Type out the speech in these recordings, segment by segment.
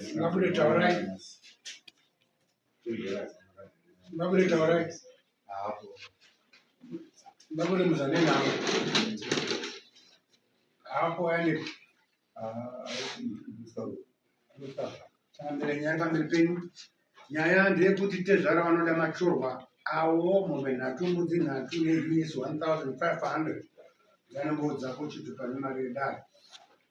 Ngabude taurai. Ngabude taurai. Ngabude muzane navo. Hapo yani. Tambire nyanga mberi penyu. Nyaya ndeyekuti tezvara vanoda machorwa awo mombe nhatu mbudzi nhatu nehinisi 1500 dzanongoudza kuchiti pane mari yedare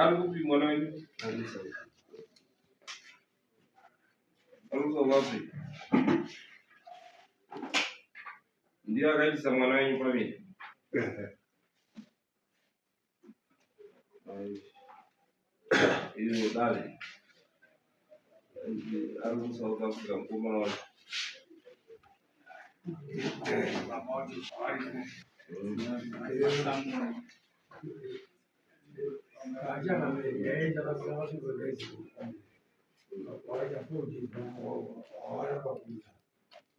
ari kupi mwana wenyu arusa wapi ndiye akaitisa mwana wenyu pamene Iyo dare ari muSouth Africa mukoma wacho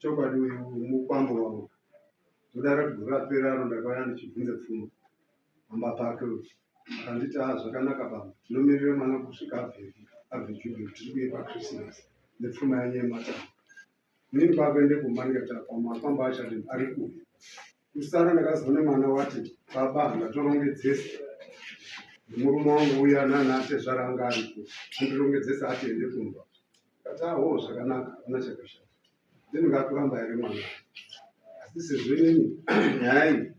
chokwadi uyu mukwambo wavo ndodara kuti gore rapera aro ndakauya ndichibvunza pfuma amba pake uyu akanditi a zvakanaka baba tinomirira mwana kusvika abve abve jubili tiri kuye pakrismas nepfuma yanyu yematanga Mimi baba ende kumba ndikati apa mafamba achati ari kupi. Kusara ndakazoona mwana wati baba ndatorongedzesa. Murume wangu uya nana atezvara anga ari kupi. Andirongedzesa ati ende kumba. Ndikati aho zvakanaka hapana chakashata. Then ngakuramba here mwana. Asi sezvo inini nyaya iyi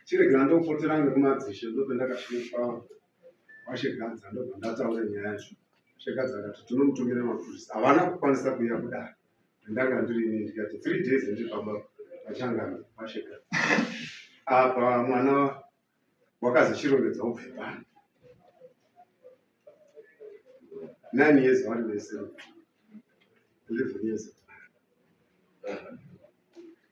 chiregera ndopotera ngekumadzishe ndopendakasvika kwashegadza ndobva ndataura nyaya yacho shegadza akati tinomutumira mapurisa havana kukwanisa kuuya kudaro ndanga ndiri ini ndikati three days ndiri pamba pachangana kwashegadza apa mwana wakazi chirongedza ubve pano nine years vari vese eleven years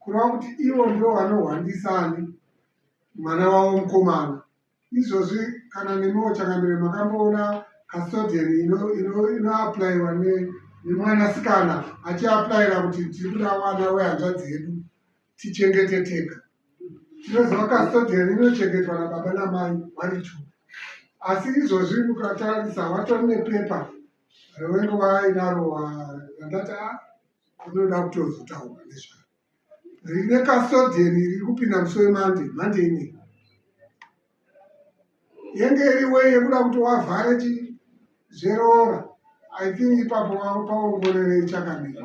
kureva kuti ivo ndivo vanohwandisa ani mwana wavo mukomana izvozvi kana nemiwo changamire makamboona custodian inoaplaiwa ino, ino nemwanasikana achiaplaira kuti tiri kuda mwana wehanzvadzi yedu tichengete tega tinoziva custodian inochengetwa nababa namai vari two asi izvozvi mukatarisa watori nepepa rewengo wainaro randati a ah, Unoda kutozotaura nezvaro. Rine custodian riri kupinda musi weMonday, Monday ine. Yenge iri way yekuda kuti wavhare chi zveroora. I think ipapo paongorere ichakamira.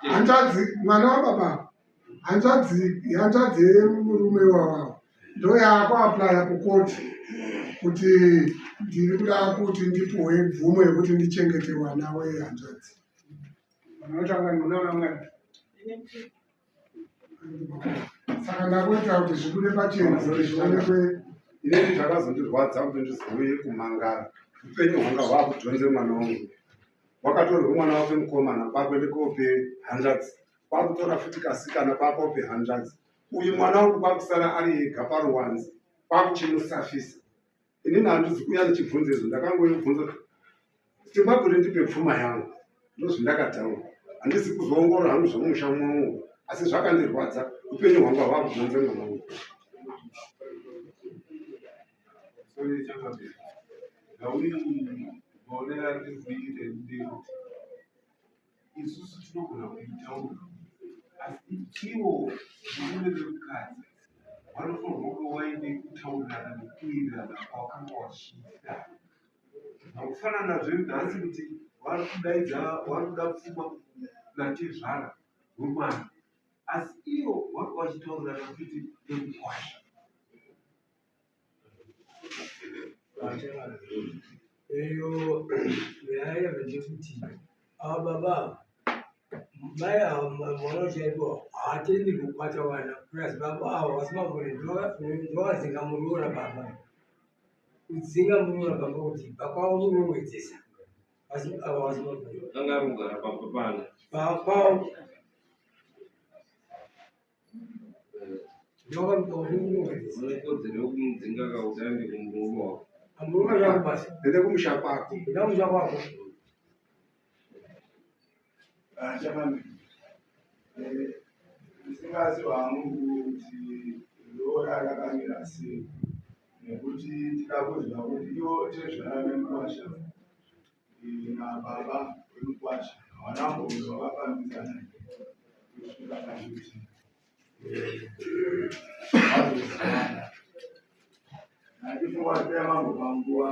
Hanzvadzi mwana wababa. hanzvadzi hanzvadzi yemurume wavavo ndoyaakuaplya kukoti kuti ndiri kuda kuti ndipuwe mvumo yekuti ndichengete wana wehanzvadzi saka ndakuita kuti zvibude pachena kuti zvionekwe inei zvakazondirwadza kuti ndizouye kumangara upenyu hwanga hwakudhonze mwana wangu wakatorwe mwana wake mukomana kwakwe ndikope hanzvadzi kwakutora futi kasikana kwakope hanzvadzi uyu mwana wangu kwakusara ari ega paruwanzi kwakuchimusafisa inini handizi kuuya ndichibvunza izvo ndakangoyobvunza simba kuti ndipe pfuma yangu ndozvindakataura handisi kuzoongorora hangu zvomusha mwangu asi zvakandirwadza upenyu hwangu hava kuzonze mwana wangu Sorry, isusu tinogona kuitawo asi ivo murume vemukadzi vanofanirwa kunge waine kutaurirana nekuwirirana kwawakanga wachiita akufanana zvenhasi kuti vari kudaidza vari kuda pfuma natezvara wemwana asi ivo vanga vachitaurirana kuti nekukwasha Eyo nyaya yekuti kuti ava baba mai ava mwana chaipo haatendi kukwata vana plus baba ava vasi magore ndovadzinga muroora baba kudzinga muroora baba kuti pakwavo munovedzesa asi ava vasi magore angarugara pakwavo unekodzero yokumudzinga kautande kumurume wako Amuruma zvangu basi. Ende kumusha kwako. Enda kumusha kwako. Ah, chamani. Eh, ndisingazi wangu kuti roora rakamira sei nekuti tikakuzwa kuti iwo tezvara nemukwasha nababa vemukwasha havana kumbonzi vavafambidzana kusvika pakuti vazozivana natifowatea mambo panguva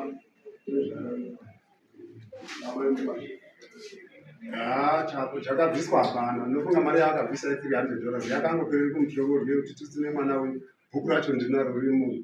nezvababa vemukwasha Ah, chako chakabviswa hapana ndofunga mari yaakabvisa ye 300 dollars yakangopereri kumutyoko rwekuti tisine mwana uyu bhuku racho ndinaro riri munhu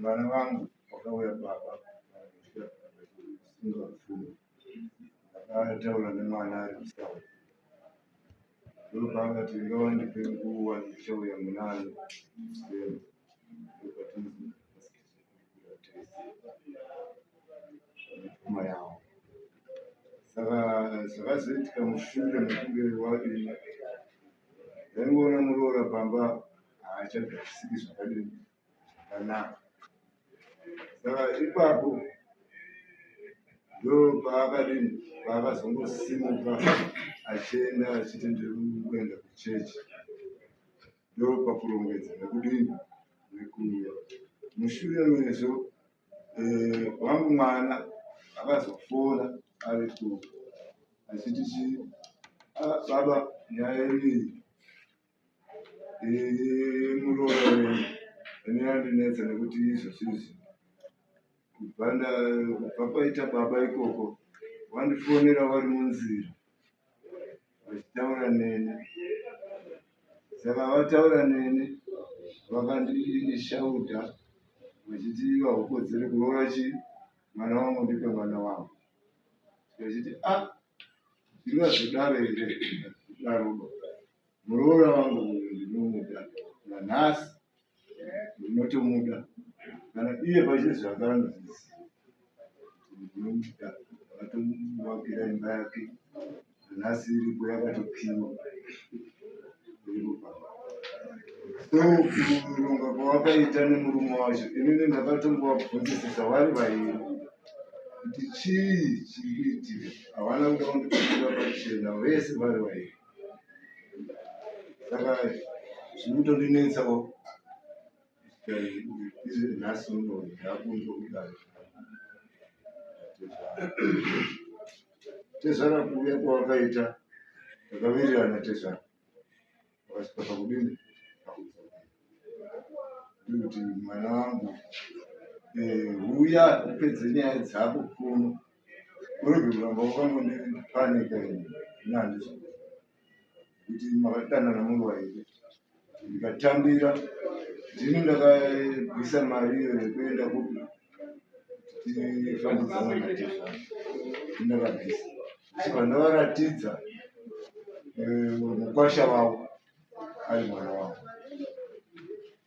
Mwana wangu wakauya baba singafuni ndakataura nemwana ari kusawa ndopanga tinga wandipe nguva ndichauya munani ndopatinooma yawo saka zvakazoitika mushure mekunge wadii ndaingoona muroora pamba haachagarisiki zvakadini zvakanaka saka ipapo ndo paakadini paakazongosimuka achienda achiti ndiri kuenda kuchechi ndo pakurongedza nekudini nekuuya mushure mezvo eh, wangu mwana akazofona ari ku achiti chi ah, baba nyaya iriyi muroora ane andinetsa nekuti izvozvizvi kubva kubva kwaita baba ikoko wandifonera wari munzira vachitaura neni saka vataura neni vakandishauta vachiti vahukodzere kuroora chi mwana wangu ndipe mwana wangu vachiti a ah, zvingazodaro here daroba muroora wangu uyu ndinomuda nanhasi ndinotomuda kana iye pachine zvanga anozviziva ndinomuda akatomuvakira imba yake nanhasi iripo yakatopiwa ndokuronga kwawakaita nemurume wacho inini ndakatongovabvunzisisa vari vairi kuti chii chiri kuitika havana kuda kundipindira pachena vese vari vairi saka zviri kutondinetsawo izvi nhasi uno ndakunzwa kudaro tezvara kuuya kwawakaita takavirirana tezvara wakasvika pakudini kuti mwana wangu eh, huya upedze nyaya dzako kuno kuti makatana namuruwa here ndikatambira ndini ndakabvisa mari iyo yekuenda kupi tifandidzana ndakabvisa saka ndavaratidza eh, mukwasha wavo ari mwana wavo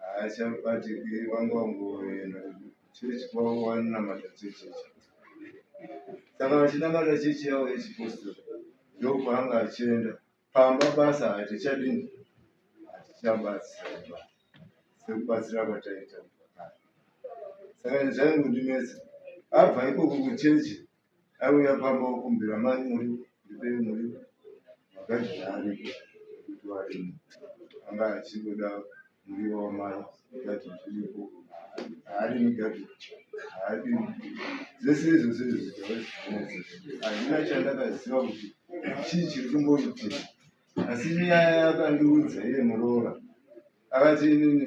haachabatiki vanga vangoenda chechi kwavo vanonamata chechi ichi saka vachinamata chechi yavo yechipostori ndokwaanga achienda pamba basa hatichadini hatichabatsiraba sekubatsira kwataita saka zvaingondinetsa abva ikoko kuchechi aiuya pamba okumbira mai muri ndipei muri makaji zvaariko kuti varimo anga achingoda muriwo wamai gati zviripo haarimi gati haarimi dzese izvose izvozvitavazivinese hazvina chandakaziva kuti chii chiri kumboitika asi nyaya yakandiudza iye muroora akati inini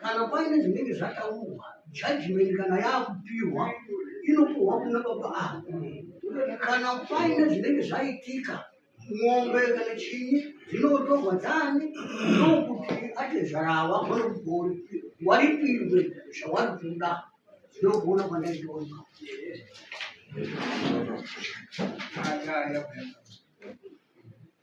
kana paine zvinenge zvataurwa judgment kana yaakupihwa inopuhwa kuna baba ako kana paine zvinenge zvaitika mombe kana chinyi dzinotorwa dzani ndokuti atezvara ava vanokugori waripirwe zvawari kuda zvinogona kwandaitoona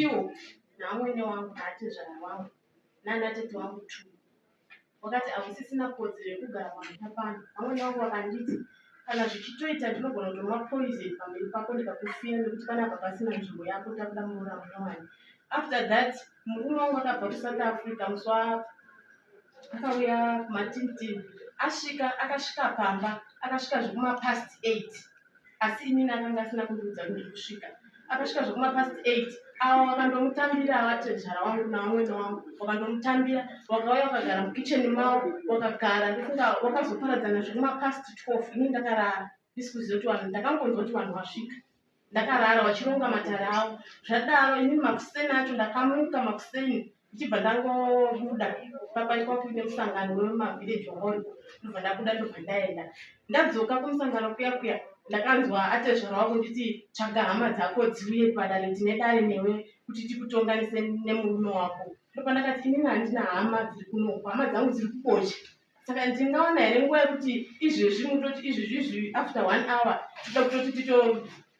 iwo naamwene wangu naatezvara wangu naanatete wangu tu wakati hakusisina kodzero yekugara pamhita pano amwene wangu vakanditi kana zvichitoita ndinogona kutonwa poison pamberi pako ndikakufira nekuti panapa pasina nzvimbo yako takuda muroora munyowani after that murume wangu akabva kusouth africa muswa akauya kumatinitini asvika akasvika pamba akasvika zvekumapast eight asi inini akanga asina kundiudza kuti ndiri kusvika akasvika zvekumapast eight awo wakandomutambira avatezvara wangu navamwene wangu wakandomutambira wakauya wakagara mukicheni mawo wakagara ndifunga wakazoparadzana zvekumapast twelve ini ndakarara ndisi kuziva kuti vanhu ndakangonzwa kuti vanhu vasvika ndakarara vachironga matare avo zvadaro ini makuseni acho ndakamuka makuseni ndichibva ndangobuda pamba ikwa kuine musangano wemavillage hall ndobva ndabuda ndobva ndaenda ndadzoka kumusangano kuya kuya ndakanzwa atezvara wako nditi tsvaga hama dzako dziuye padare tine dare newe kuti tikutonganise nemurume wako ndobva ndakati inini handina hama dziri kuno hama dzangu dziri kukocha saka ndingaona here nguva yekuti izvezvi mutoti izvezvi izvi after one hour tida kutoti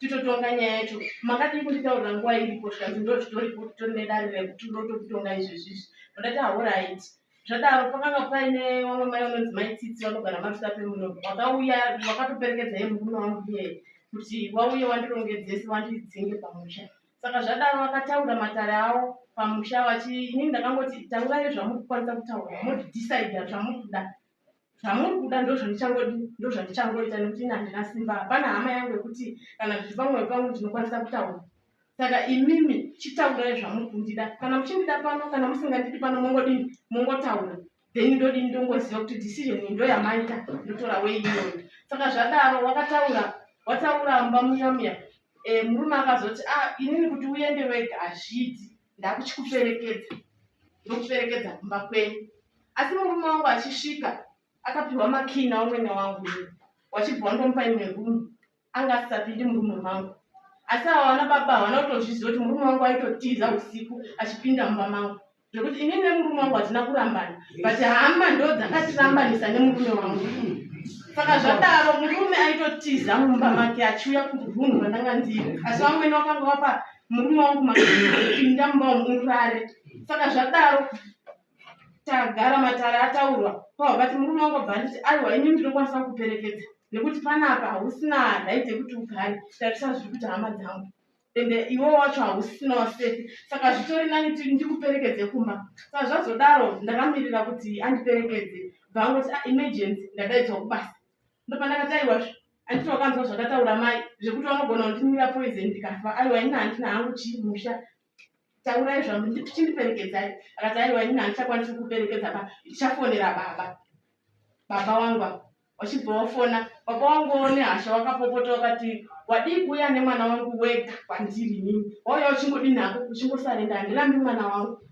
titotonga nyaya yacho makadii kunditaurira nguva iripo zvikanzi ndo zvitori kuti tori nedare rekuti ndotokutonga izvezvi izvi ndodati ahorait zvadaro pakanga paine vamwe mai vanonzi mai tsitsi vanogara mafita pemuno vakauya vakatoperekedza ye murume wangu iye kuti wauye wandirongedzese wandidzinge pamusha Saka zvadaro vakataura matare avo pamusha vachi inini ndakangoti taurai zvamuri kukwanisa kutaura moti decide zvamuri kuda zvamuri kuda ndozvandichangodi ndozvandichangoita nekuti ini handina simba hapana hama yangu yekuti kana zviri pamwoyo pangu ndinokwanisa kutaura saka imimi chitaurai zvamuri kundida kana muchindida pano kana musingandidi pano mongodini mongotaura then ndodii ndongoziva kuti decision iyi ndo yamaita ndotora wei iyoyo saka zvadaro wakataura wataura mba muya muya e, murume akazoti a ah, inini kuti uende wega hazviiti ndakuchikuperekedza ndokuperekedza kumba kwenyu asi murume wangu achisvika akapiwa makina umwene wangu wachibva wandomupa imwe rumu anga asisapindi murume mangu asi ava vana baba havana kutozviziva kuti murume wangu aitotiza usiku achipinda mumba mangu zvekuti ini nemurume wangu hatina kurambana but hama ndo dzakatirambanisa nemurume wangu saka zvadaro murume aitotiza mumba make achiuya kurunhu randanga ndiri asi vamwene vakanga vapa murume wangu maapinda mumba wamuurare saka zvadaro tagara matare ataurwa kwavabati murume wangu abva anditi aiwa ini ndinokwanisa kuperekedza nekuti panapa hausina right yekuti ugare tarisa zviri kuita hama dzangu ende iwo wacho hausinawo sefi saka zvitori nani ti ndikuperekedze kumba saka zvazodaro ndakamirira kuti andiperekedze bvaangoti ah, emergency ndadaidzwa kubasa ndopandakati aiwa anditi wakanzwa zvakataura mai zvekuti vanogona kundinira poison ndikafa aiwa ini handina hangu chii musha taurai zvangu ndichindiperekedzai akati aiwa ini handichakwanisi kuperekedza ba ndichafonera baba baba wangu apa wachibva wafona baba wangu one hasha wakapopota wakati wadii kuuya nemwana wangu wega kwandiri nini wauya uchingodii nako uchingosarenda handirambi mwana wangu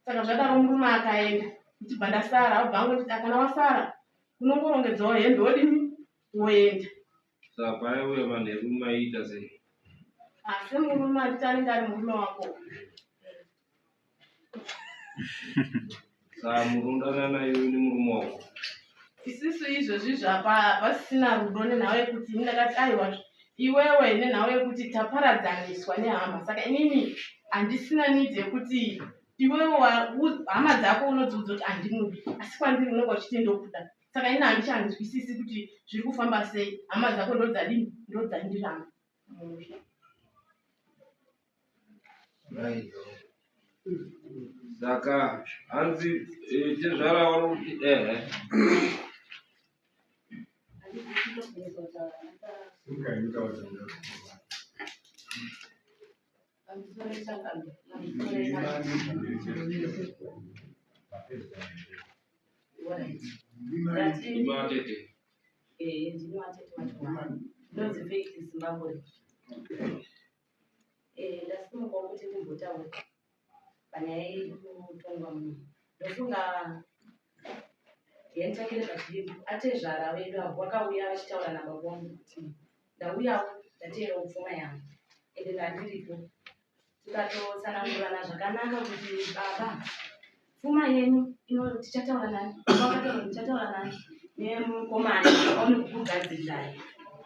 saka zvadaro murume akaenda ndichibva ndasara abva angu nditi akana wasara unongorongedzawo hembe wodini woenda Saka aiuya manheru maiita sei? Asi murume atitange ari murume wako. Saka murundana naye uyu nemurume wako. Isisu izvozvi zvapa hapasisina rudo nenhau yekuti ini ndakati aiwa iwewe nenhau yekuti taparadzaniswa nehama saka inini handisina need yekuti iwewe wa- u- hama dzako unodziudza kuti handimudi asi kwandiri unenge uchiti ndokuda saka ini handichanzwisisi kuti zviri kufamba sei hama dzako ndodzadini ndodzandiramba musha saka hanzi eh, tezvara wari kuti ehe Thank you. ndasimuka kuti ndimbotaura panyaya yekutongwa munhu ndofunga yenitakire vazhinji atezvara vedu avo vakauya vachitaura nababa vangu kuti ndauyawo ndateerawo pfuma yangu ende ndandiripo tikatotsanangurana zvakanaka kuti baba pfuma yenyu ino tichataura nani vakataura ndichataura nani nemukomana aone kukugadzirirai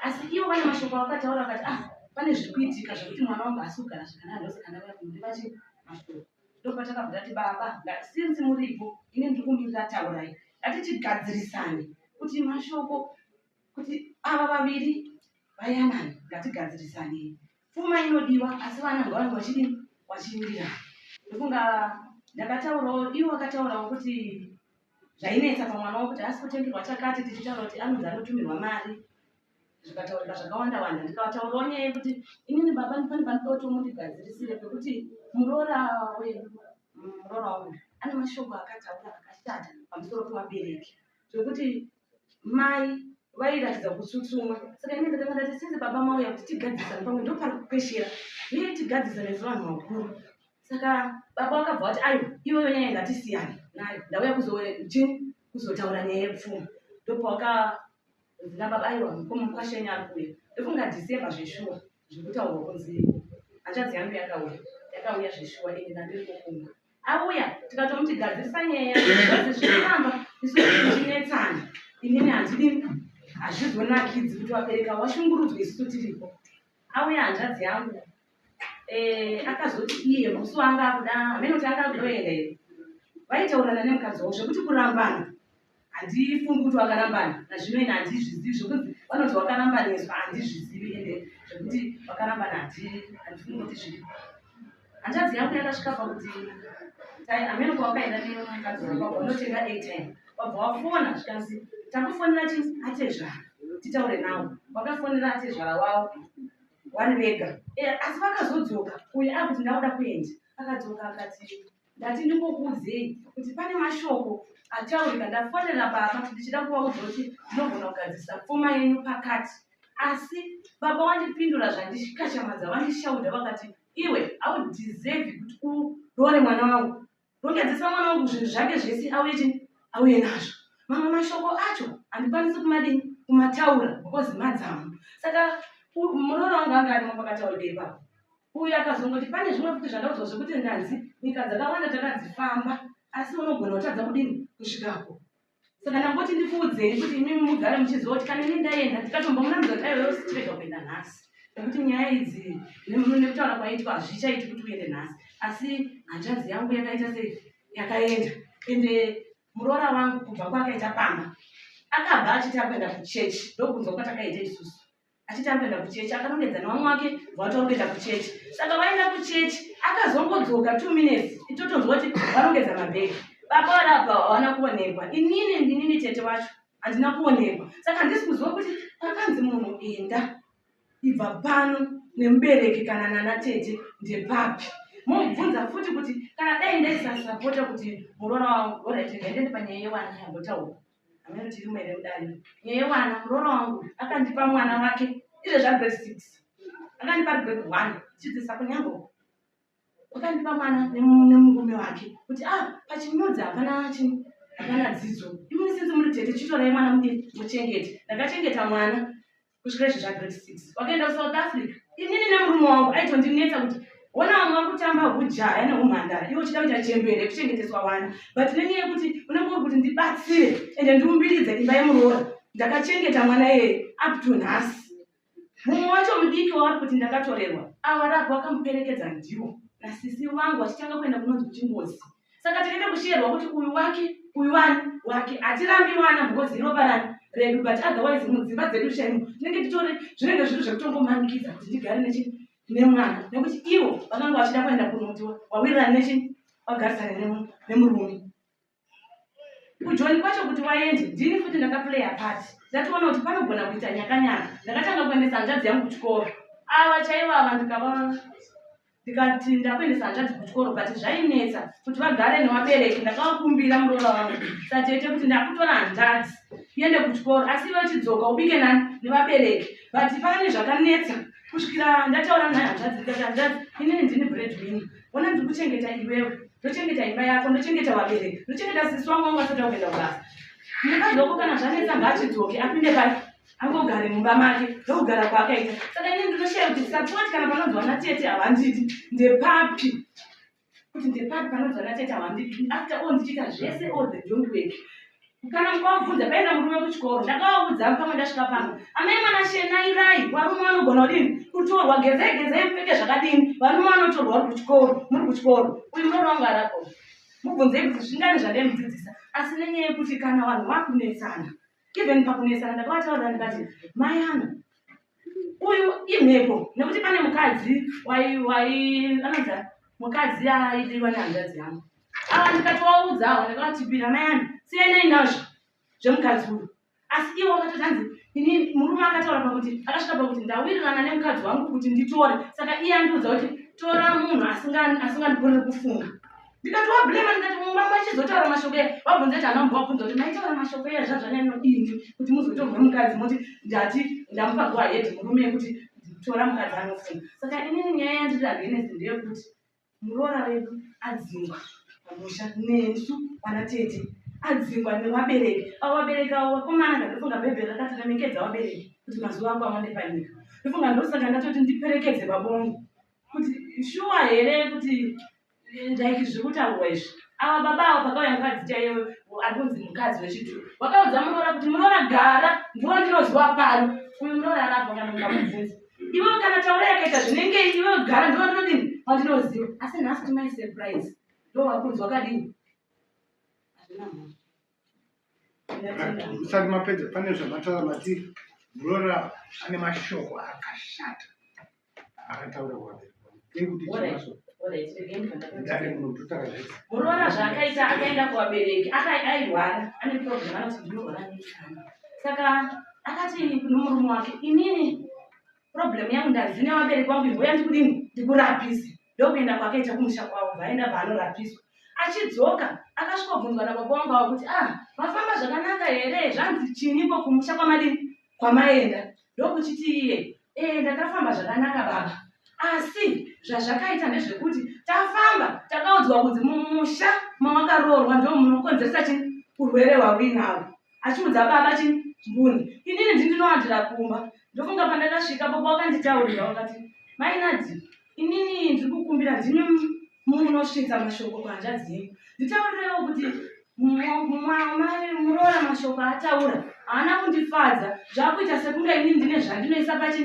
asi ivo vane mashoko avakataura vakati ah pane zviri kuitika zvekuti mwana wangu asi kugara zvakanaka ndosaka ndauya kunoti vati mashoko ndopatakabva tati baba since muripo ini ndiri kumirira taurai ngatichigadzirisane kuti mashoko kuti ava vaviri vayanani ngatigadzirisanei pfuma inodiwa asi vana ngavange vachidii vachimirira ndokunga ndakataurawo ivo vakataurawo kuti zvainetsa pamwana wo kuti haasi kutengerwa chakati tichitaura kuti anonzi anotumirwa mari zvikataurika zvakawanda wanda ndikavataurawo nyaya yekuti inini baba ndipani panoda kuti mundigadzirisire pekuti muroora wedu muroora wangu ane mashoko akataura akashata pamusoro pevabereki zvekuti mai vairatidza kutsutsumwa saka ine ndakanga ndati sinzi baba mauya kuti tigadzisane pamwe ndopari kukweshera iye tigadzisane sevanhu vakuru saka baba vakabva vati aiwa iweyo nyaya ngatisiyane nayo ndauya kuzochini kuzotaura nyaya yepfuma ndopawakazina baba aiwa mukoma mukwashenya ari kuuya ndofunga december zveshuwa zvekutaurwa kunzi hanzvadzi yangu yakauya yakauya zveshuwa ini ndandiri kukumba auya tikatomuti gadzirisa nyaya azi zvinoramba isu tichinetsana inini handidi hazvizonakidzi kuti wabereka washungurudzwa isu tiripo auya hanzvadzi yangu eh, akazoti iye musi waanga akuda hameno kuti anga akudoenda here vaitaurana nemukadzi wavo zvekuti kurambana handifungi kuti wakarambana nazvino ine handizvizivi zvekuti vanoti wakarambaniswa handizvizivi ende zvekuti wakarambana handii handifungi kuti zviri hanzvadzi yangu yakasvika pakuti tai amene kwawakaenda nemukadzi wako unotenga atm wabva wafona zvikanzi takufonera chi atezvara titaure nawo wakafonera atezvara wavo wari vega eh, asi vakazodzoka uyu akuti ndakuda kuenda akadzoka akati ndati ndingokuudzei kuti pane mashoko ataurika ndafonera baba ndichida kuvaudza kuti ndinogona kugadzirisa pfuma yenyu pakati asi baba wandipindura zvandishikachamadza vandishaudha vakati iwe audeserve kuti uroore mwana wangu rongedzesa mwana wangu zvinhu zvake zvese auye chini auye nazvo mamwe mashoko acho handikwanisi kumadini kumataura because madzamo saka muroora wangu anga arimo pakataurika ipapo uyu akazongoti pane zvimwe futi zvandaudzwa zvekuti ndanzi nyika dzakawanda takadzifamba asi unogona kutadza kudini kusvikako saka ndangoti ndikuudzei kuti imimi mugare muchiziva kuti kana ini ndaenda ndikatomba munamudza kuti aiwewo sitirega kuenda nhasi nekuti nyaya idzi nekutaura kwaitwa hazvichaiti kuti uende nhasi asi hanzvanzi yangu yakaita sei yakaenda ende muroora wangu kubva kwaakaita pamba akabva achiti akuenda kuchechi ndokunzwa kwatakaita isusu achiti akuenda kuchechi akanongedza nevamwe wake vati vari kuenda kuchechi saka vaenda kuchechi akazongodzoka two minutes itotonzwa kuti vanongedza mabhegi baba vari apa havana kuonekwa inini ndinini tete wacho handina kuonekwa saka handisi kuziva kuti pakanzi munhu enda ibva pano nemubereki kana nana tete ndepapi mobvunza futi kuti kana dai ndaisasapota kuti muroora wangu oraitendendepanyaya yewani yambotaura Hameno tirimo here mudare? Nyaya wana muroora wangu akandipa mwana wake izve zvagrade six akandipa ari grade one chidzidzisa kunyangoko akandipa mwana nemurume wake kuti a ah, pachinyudzi hapana chii hapana dzidzo imwe sinzi muri tete chitorai mwana mudii muchengete ndakachengeta mwana kusvika izvi zvagrade six wakaenda kusouth africa inini nemurume wangu aitondinetsa kuti ona vamwe vakutamba hujaya neumhandara iwe uchida kuita chembere kuchengeteswa wana but nenyaya yekuti unenge uri kuti ndibatsire ende ndiumbiridze imba yemuroora ndakachengeta mwana iyeye up to nhasi mumwe wacho mudiki wavari kuti ndakatorerwa ava rapi wakamuperekedza ndiwo nasisi vangu vachitanga kuenda kunonzi kuchingozi saka tinoita kushiyerwa kuti uyu wake uyu wani wake hatirambi mwana because inopa rani redu but otherwise mudzimba dzedu shaimu tinenge titori zvinenge zviri zvekutongomanikidza kuti ndigare nechi nemwana nekuti ivo vakanga vachida kuenda kunotiwa wawirirana nechi wagarisane nemurume kujoni kwacho kuti waende ndini futi ndakaplaya part ndatoona kuti panogona kuita nyakanyaka ndakatanga kuendesa hanzvadzi yangu kuchikoro ava chaivo ava ndikavaa ndikati ndakuendesa hanzvadzi kuchikoro but zvainetsa kuti vagare nevabereki ndakavakumbira muroora vangu satete kuti ndakutora hanzvadzi iende kuchikoro asi ive chidzoka ubike nani nevabereki but pane zvakanetsa kusvikira ndataura naye hanzvadzi ndikati hanzvadzi inini ndini bread win ona ndiri kuchengeta iwewe ndochengeta imba yako ndochengeta vabereki ndochengeta sisi wangu wangu asati akuenda kubasa ndikadoko kana zvanetsa ngaachidzoke apinde pai angogare mumba make ndokugara kwaakaita saka ini ndinoshaya kuti sapoti kana panonzi vana tete havandidi ndepapi kuti ndepapi panonzi vana tete havandidi after all ndichiita zvese all the don't work kana mukavabvunza paenda murume kuchikoro ndakavaudza pamwe ndasvika pano amai mwana shenairai varume vanogona kudini kutorwa gezei gezei mupfeke zvakadini varume vanotorwa uri kuchikoro muri kuchikoro uyu murono wangu arako mubvunzei kuti zvingani zvandemudzidzisa asi nenyaya yekuti kana vanhu vakunetsana even pakunetsana ndakavataurira ndikati mai angu uyu imhepo nekuti pane mukadzi anonzi mukadzi aidiwa nehanzvadzi yangu ava ndikati waudzawo ndakavatipira mai angu siyanai nazvo zvemukadzi uyu asi iwo akatoti hanzi ini murume akataura pakuti akasvika pakuti ndawirirana nemukadzi wangu kuti nditore saka iye andiudza kuti tora munhu asingandigonere kufunga ndikati wablema ndikati mumba machizotaura mashoko aya wabvunza kuti anambo wabvunza kuti maitaura mashoko aya zvazvanyanya nodini kuti muzotorwa mukadzi moti ndati ndamupa go ahead murume yekuti tora mukadzi anofuna saka inini nyaya yandiri agenesi ndeyekuti muroora vedu adzingwa pamusha nesu vana tete adzingwa nevabereki avo vabereki avo vakomana ndandofunga bhaibheri rakati remekedza vabereki kuti mazuva ako awande panyika ndofunga ndosaka ndatoti ndiperekedze vabongo kuti shuwa here kuti like zviri kutaurwa izvi ava baba avo pakauya mukadzi chaiyo ari kunzi mukadzi wechidhuru wakaudza muroora kuti muroora gara ndiwo ndinoziwa pano uyu muroora arapa kana mukamubvunza ivo kana taura yakaita zvinenge ivo gara ndiwo ndinodini pandinoziva asi nhasi timai surprise ndo vakunzwa kadini hazvina mhosva usati mapedza pane zvamataura mati muroora ane mashoko akashata akataura kwavari muroora zvaakaita akaenda kuvabereki airwara ane problem anoti ndinorwara neikana saka akati nomurume wake inini problem yangu ndazi nevabereki vangu imboya ndikudini ndikurapise ndokuenda kwakaita kumusha kwavo vaenda vaanorapiswa achidzoka akasvikobvunzwa nababa wangu avo kuti ah mafamba zvakanaka here zvanzi chiniko kumusha kwamadii kwamaenda ndokuchiti iye ee eh, ndakafamba zvakanaka baba asi zvazvakaita ndezvekuti tafamba takaudzwa kunzi mumusha mawakaroorwa ndo munokonzeresa chi urwere hwauinawo achiudza baba chi mbuni inini ndindinowandira kumba ndofunga pandakasvika baba wakanditaurira wakati mainadzi inini ndiri kukumbira ndimi munosvitsa mashoko kuhanzvadzi yenyu nditaurirewo kuti muroora mashoko ataura haana kundifadza zvakuita sekunge inini ndine zvandinoisa pachi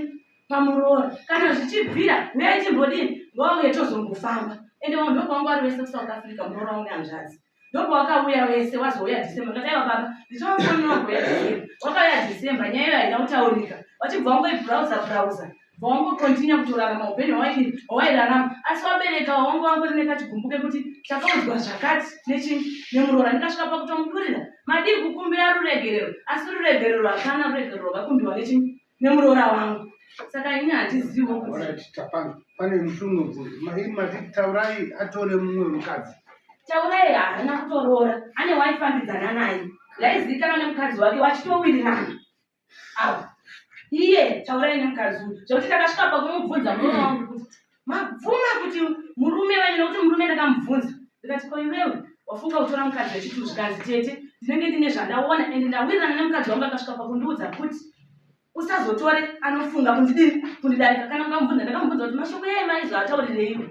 pamuroora kana zvichibvira huyai timbodini ngouye tozongofamba ende vanhu ndokwangwari vese kusouth africa muroora une hanzvadzi Ndopo wakauya wese wazouya December kati aiwa baba ndichawafonera kuuya December. Wakauya December nyaya iyo haina kutaurika. Wachibva wangoibrowser browser. Bva wangocontinue kutorarama upenyu hwawaidini hwawairarama asi wabereka wangu wangori nekachigumbu kekuti takaudzwa zvakati nechinyi nemuroora ndikasvika pakutomudurira madii kukumbira ruregerero asi ruregerero hapana ruregerero rwakakumbiwa nechinyi nemuroora wangu saka ini handizivo pane mushungu bvunzi mai mati taurai atore mumwe mukadzi taurai haana kutoroora ane waifambidzana naye yaizivikanwa nemukadzi wake wachitowirirana avo iye taurai nemukadzi uyu zvekuti takasvika pakumubvunza muroora wangu kuti mabvuma kuti murume wenyu nokuti murume ndakamubvunza ndikati ko iwewe wafunga kutora mukadzi wechiti zvikanzi tete ndinenge ndine zvandaona and ndawirirana nemukadzi wangu akasvika pakundiudza kuti usazotore anofunga kundidii kundidarika kana ukamubvunza ndakamubvunza kuti mashoko yaye maizo ataurireiwe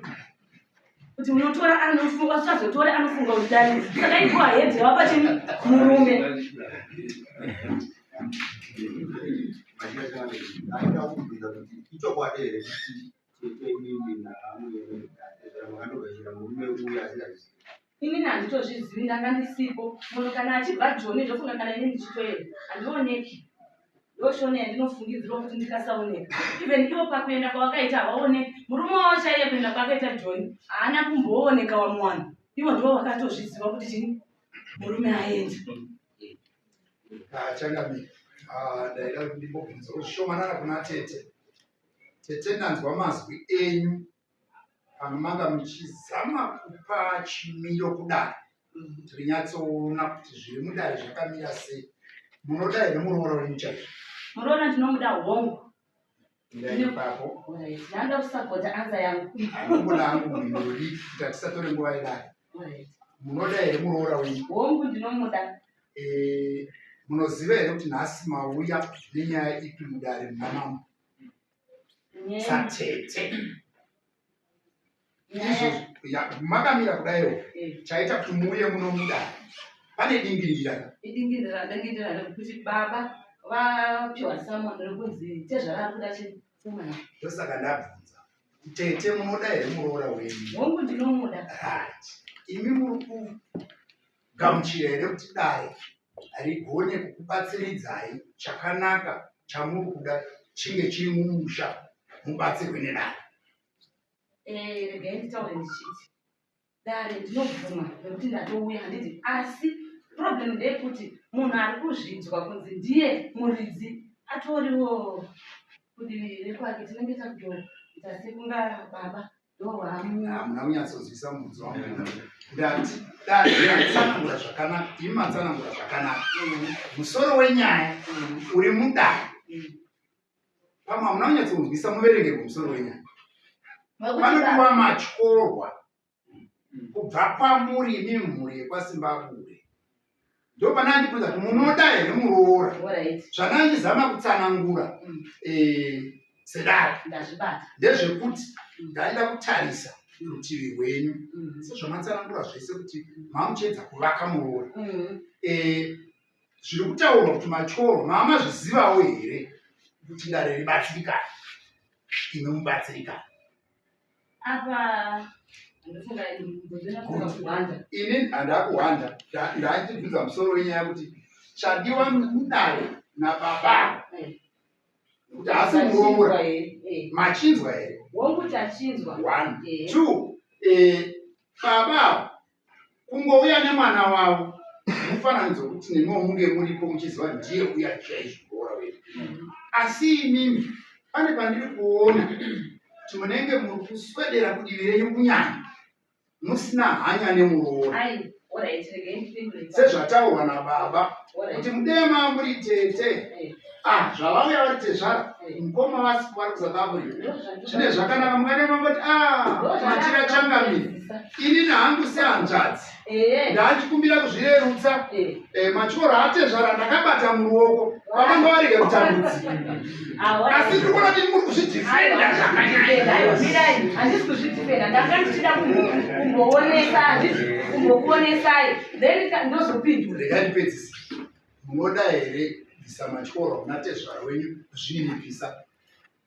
kuti unotora anofunga usazotore anofunga undidarika saka igoa hedhi wapacheni murume ini nanditozvizivi ndanga ndisipo munhu kana achibva joni ndofunga kana ini ndichitoenda handioneki ndoshona yandinofungidzirwa kuti ndikasaoneka even ivo pakuenda kwavakaita havaoneki murume wavo chaiye kuenda kwakaita joni haana kumbooneka wamuwana ivo ndivo vakatozviziva kuti chini murume aende Changamire. Ah, ndaida ndimbobvunza ushomanana kuna tete. Tete ndanzwa mazwi enyu pano manga muchizama kupa chimiro kudare. Tiri nyatsoona kuti zviri mudare zvakamira sei. Munoda here muroora wenyu chaizvo? Muroora ndinomuda hongu. ndanda kusapota anza yanguatisatore nguva yedai munoda here muroora wenyu hongu ndinomuda eh, munoziva here kuti nhasi mauya nenyaya ipi mudare mnamamo satete makamira kudaiwo eh. chaita kuti muuye muno mudai pane dingindira idingindira dingindira rekuti baba vapiwa samon rekunzi tezvara ari kuda chifuma ndosaka ndabvunza tete munoda here muroora wenyu hongu ndinomuda imi muri ku gamuchira here kuti dare harigone kukubatsiridzai chakanaka chamuri kuda chinge chiri mumusha mubatsirwe nedare eh, regai nditaure ndichiti dare ndinobvuma nekuti ndatouya handiti asi problem ndeyekuti munhu ari kuzvinzwa kunzi ndiye muridzi atoriwo kudii rekwake tinenge takutoita sekunga baba hamuna kunyatsonzwisa mubvunzo wangu ndati dai matsanangura zvakanaka imi matsanangura zvakanaka musoro wenyaya uri mudare pamwe hamuna kunyatsonzwisa muverenge kumusoro wenyaya panopiwa matyorwa kubva kwamuri imi mhuri yekwasimbabude ndopana andibvunza kuti munoda here muroora zvandandizama kutsanangura mm. eh, sedaro ndezvekuti mm. ndaida kutarisa rutivi rwenyu mm. sezvamatsanangura zvese kuti mamuchiedza kuvaka muroora eh, zviri kutaurwa kuti machoro mamazvizivawo here kuti dare ribatsirikana ino mubatsirikana ini handakuhwanda ndaitibvunza musoro wenyaya kuti chadiwa kudare nababa kuti asi muroora machinzwa here one two eh, Baba ava kungouya nemwana wavo mufananidzo wekuti nemiwo munge muripo muchiziva ndiye uya chaizvo kuora wedu. Asi imimi pane pandiri kuona kuti munenge muri kuswedera kudivi renyu kunyanya musina hanya nemuroora. Sezvataurwa nababa kuti mudema muri tete. Ah, zvavauya vari tezvara mukoma wasi vari kuzadavo zvine zvakanaka mukane mangoti ah, matira changamire ini nahangu sehanzvadzi eh. ndaachikumbira kuzvirerutsa eh. eh, machoro atezvara ndakabata muruoko vavanga varege kutambudzika asi tiri kuona kuti muri kuzvidhifenda zvakanyanyaakuonesai then ndozopindura ndikandipedzisa munoda here bvisa matyora kuna tezvara wenyu zvini mubvisa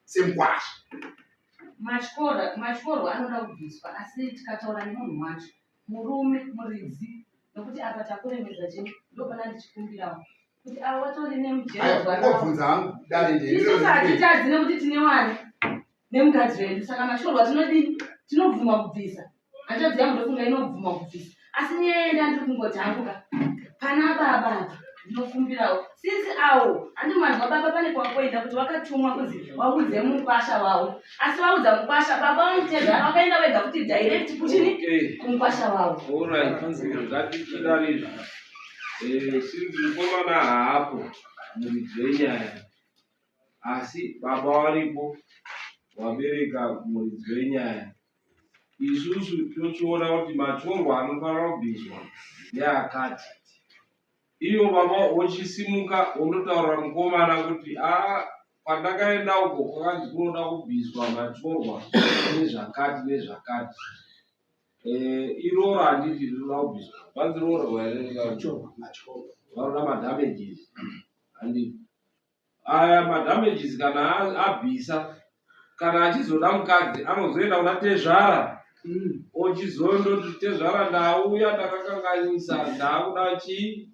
semkwasha matyora matyorwa anoda kubviswa asi tikataura nemunhu wacho murume muridzi nokuti apa takuremedza chii ndopana ndichikumbirawo kuti avo vatori nemujero ngobvunza hangu dare ndeisusu hatitadzi nekuti tine wani nemukadzi wedu saka mashorwa tinodii tinobvuma kubvisa hanzvadzi yangu ndofunga inobvuma kubvisa asi nyaya yenda ndiri kungotambuka pana baba ndinokumbirawo since awo handi manzwa baba pane kwakoenda kuti wakatumwa kunzi waudze mukwasha wawo asi waudza mukwasha baba vanoteza vakaenda vega kuti direct kuchini kumukwasha wawo eh, since mukomana haapo muridzi wenyaya asi baba varipo vabereka muridzi wenyaya isusu tochiona kuti matorwa anofanira kubviswa neakati iyo baba wochisimuka wonotaurira mukomana kuti a ah, pandakaenda uko kwakanzi kunoda kubviswa matorwa nezvakati nezvakati eh, iroro handiti rinoda kubviswa vanzi roro vanoda madamages handiti Aya madamages kana abvisa kana achizoda mukadzi anozoenda kuna tezvara mm. ochizondoti tezvara ndauya ndakakanganisa ndaakuda chii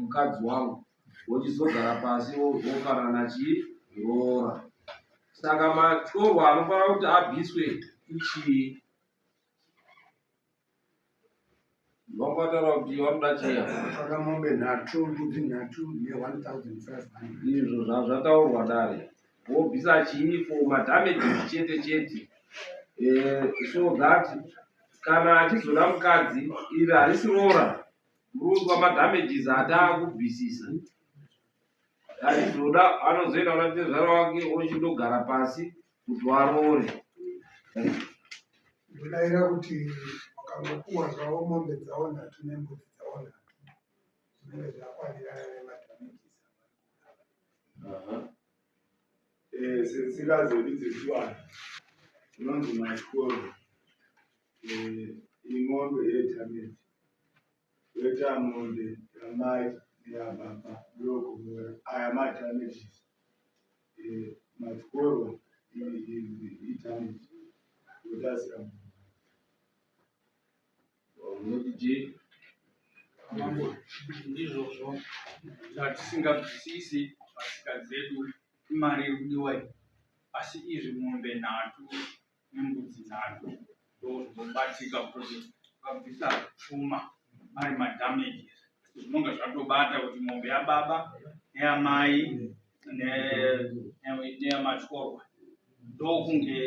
mukadzi wangu wochizogara pasi wofanana chii roora saka matyorwa anofanira kuti abviswe ichii Vakataura kuti vanoda cheya. Saka mombe nhatu, mbudzi nhatu ne1500. Izvo zvataurwa dare. Wobvisa chii for madamages chete chete. Eh, so that kana achizoda mukadzi iri harisi roora. Murume madamages hataa kubvisisa. achizoda anozoenda kuna tezvara wake ochindogara pasi kuti waroore ndodavira kuti wakangopuwa zvavo mombe dzavo nhatu nembudzi dzavo nhatu zvinenge zvakwanirana nemadhamikiza eh, setsika dzedu dzechivanhu inonzi mashkoro eh, imombe yedhamikiza Vetamombe rambai neababa ndokumura aya madamages eh, matyorwa idamage yotasira munodidii mambo ndizvozvo zvatisingabvisisi pasika dzedu imari iri kudiwa iyi asi izvi mombe nhatu nembudzi dzake ndokubatika kuti vabvisa pfuma ari madamages zvinonga zvatobata kuti mombe yababa neyamai neyamatyorwa ndokunge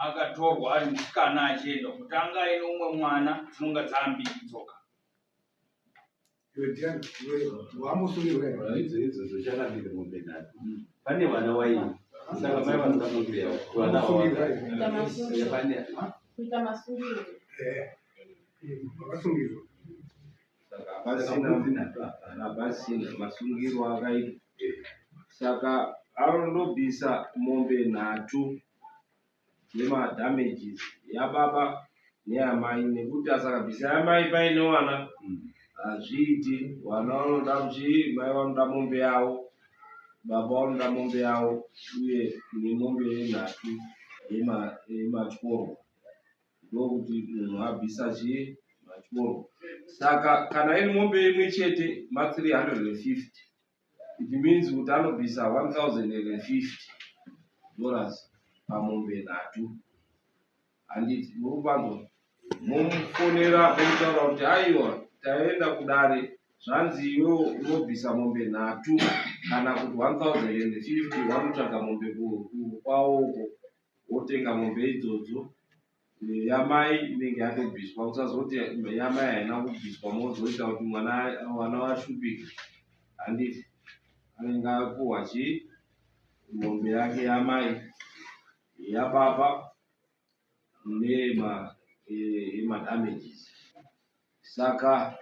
akatorwa ari musikana achienda kutanga ine umwe mwana dzinonga dzaambiri dzoka pane vana waini saka mai vanokamukira vana kuita masungiro vakasungirwa hapasina masungiro akaitwa saka anondobvisa mombe nhatu nema damages yababa neyamai nekuti asaka bvisa yamai paine wana mm. hazviiti wana vanoda kuchii mai vanoda mombe yavo baba vanoda mombe yavo uye nemombe yenhatu yematyorwa ndokuti munhu abvisa chii matyorwa saka kana iri mombe imwe chete ma 350 It means kuti anobvisa 1050 dollars pamombe nhatu handiti murubanzo momufonera momutaura kuti aiwa taenda kudare zvanzi iwe unobvisa mombe nhatu kana kuti 1050 wanotsvaga mombe kwaoko wotenga mombe idzodzo yamai inenge yatobviswa usazoti yamai haina kubviswa mozoita kuti mwana mwana washupike handiti anenge apuhwa chii mombe yake yamai yababa nema eh, emadamages saka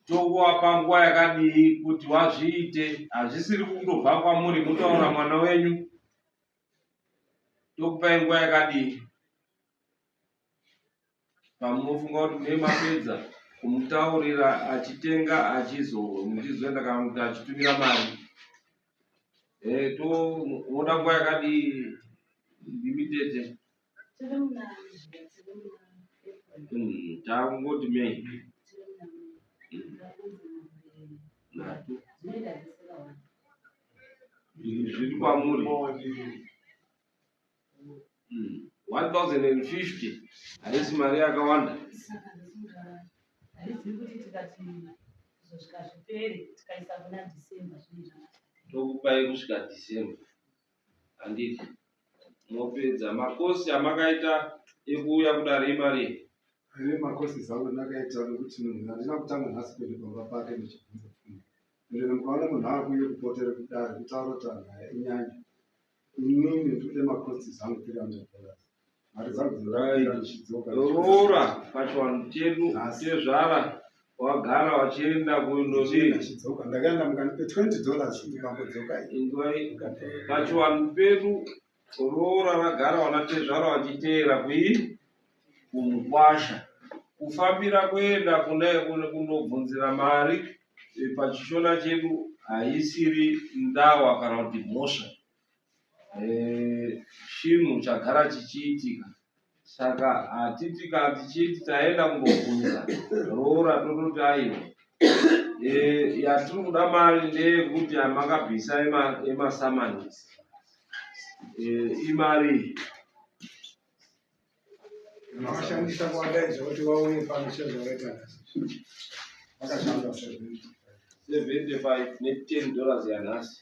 tokuvapa nguva yakadii kuti wazviite hazvisiri kundobva kwamuri motaura mwana wenyu tokupai nguva yakadini pamunofunga kuti mune mapedza kumutaurira achitenga achizowe muchizoenda kana kuti achitumira mari eh, to unoda nguva yakadii ndimitete Mm, taakungoti mei nhatu zviri kwamuri 1050 mm, haisi mari yakawanda tokupai kusvika december handiti mopedza makosi amakaita ekuuya kudare imari ane makosi zangu ndakaita nekuti munhu handina kutanga nhasi kuende pamba pake ndichibvunza fundo ndene mukaona munhu akuye kupotere kudare kutaura kuti anhu aya inyanya inini ndikude makosi zangu 300 dollars roora pachivanhu chedu tezvara wagara wachienda kundopachivanhu pedu roora ragara wana tezvara wachiteera kui kumukwasha kufambira kuenda kundobvunzira mari pachishona chedu haisiri ndawa kana kuti mhosva eh, chinhu chagara chichiitika saka hatiti kana tichiti taenda kumbobvunza roora tototi aiwa eh, yatiri kuda mari ndeyekuti amakabvisa emasamanisi eh, imari makashandisa kuwadaidza kuti vauye pano sezvavaita vakashanda 75 ne 10 dollars yanhasi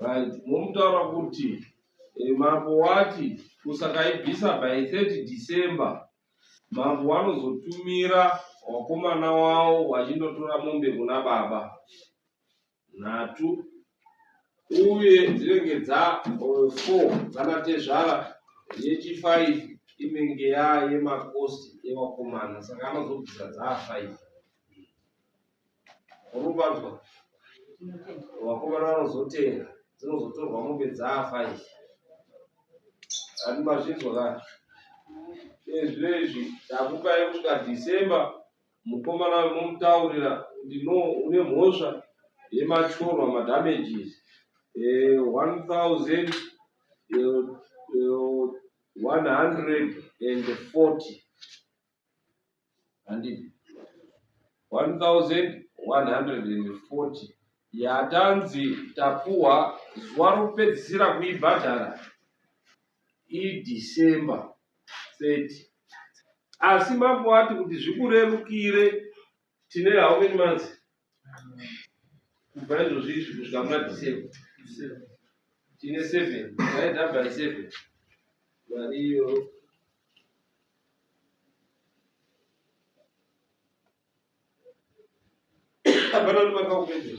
right momutaura kuti eh, mambo wati kusakaibvisa by 30 december mambo wanozotumira wakomana wawo wachindotora mombe kuna baba nhatu uye dzinenge dza eh, four dzanatezvara yechifive inenge yayemakosti evakomana saka anozobvisa dzaa five uruvanzwa vakomana vanozotenga dzinozotorwa mombe dzafa izvi ati mazvinzwa ka ezvi izvi takupai kusvika december mukomana wemomutaurira kuti no une mhosva yemachorwa madamages eh, one thousand eh, eh, one hundred and forty handiti 1140 yatanzi tapuwa zuva rokupedzisira kuibhadhara idecember 30 asi mambo ati kuti zvikurerukire tine how many months kubva izvozvi izvi kusvika muna december tine seven aida by seven mari iyo hapana kuti makaupedzera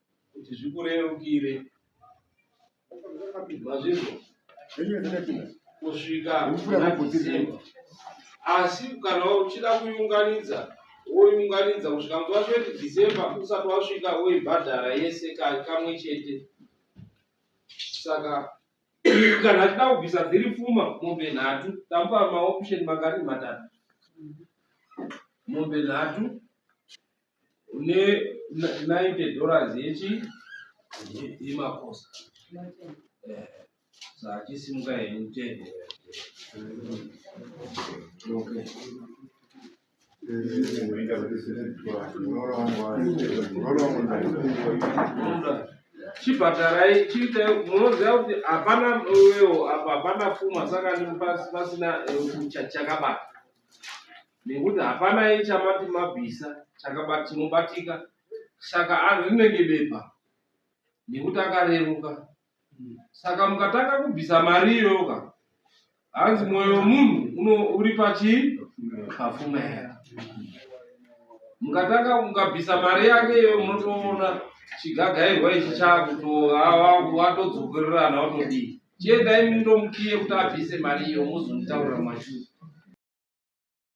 kuti zvikurerukire mazvizvo kusvika kunakisimba asi kana uchida kuiunganidza woiunganidza kusvika nguva zveti december usati wasvika woibhadhara yese kamwe chete saka kana achida kubvisa dziri pfuma mombe nhatu tamupa maoption makani matatu mombe nhatu une 90 dollars yechi yemakosa eh, saachisimuka henyu tende okay. chibhatarai chiita munoziva kuti hapana uyewo apa hapana pfuma saka pasina eh, chakabata nekuti hapana iye chamati mabvisa chakabati chinobatika saka ari rinenge bepa nekuti akareruka saka mukatanga kubvisa mari iyoyoka hanzi mwoyo wemunhu uno- uri pachii pafunga here mukatanga mukabvisa mari yake iyoyo munotoona chigagairwa ichi chakutoatodzokererana watodii chiendai mundomukiye kuti abvise mari iyo mozonditaurira mashuu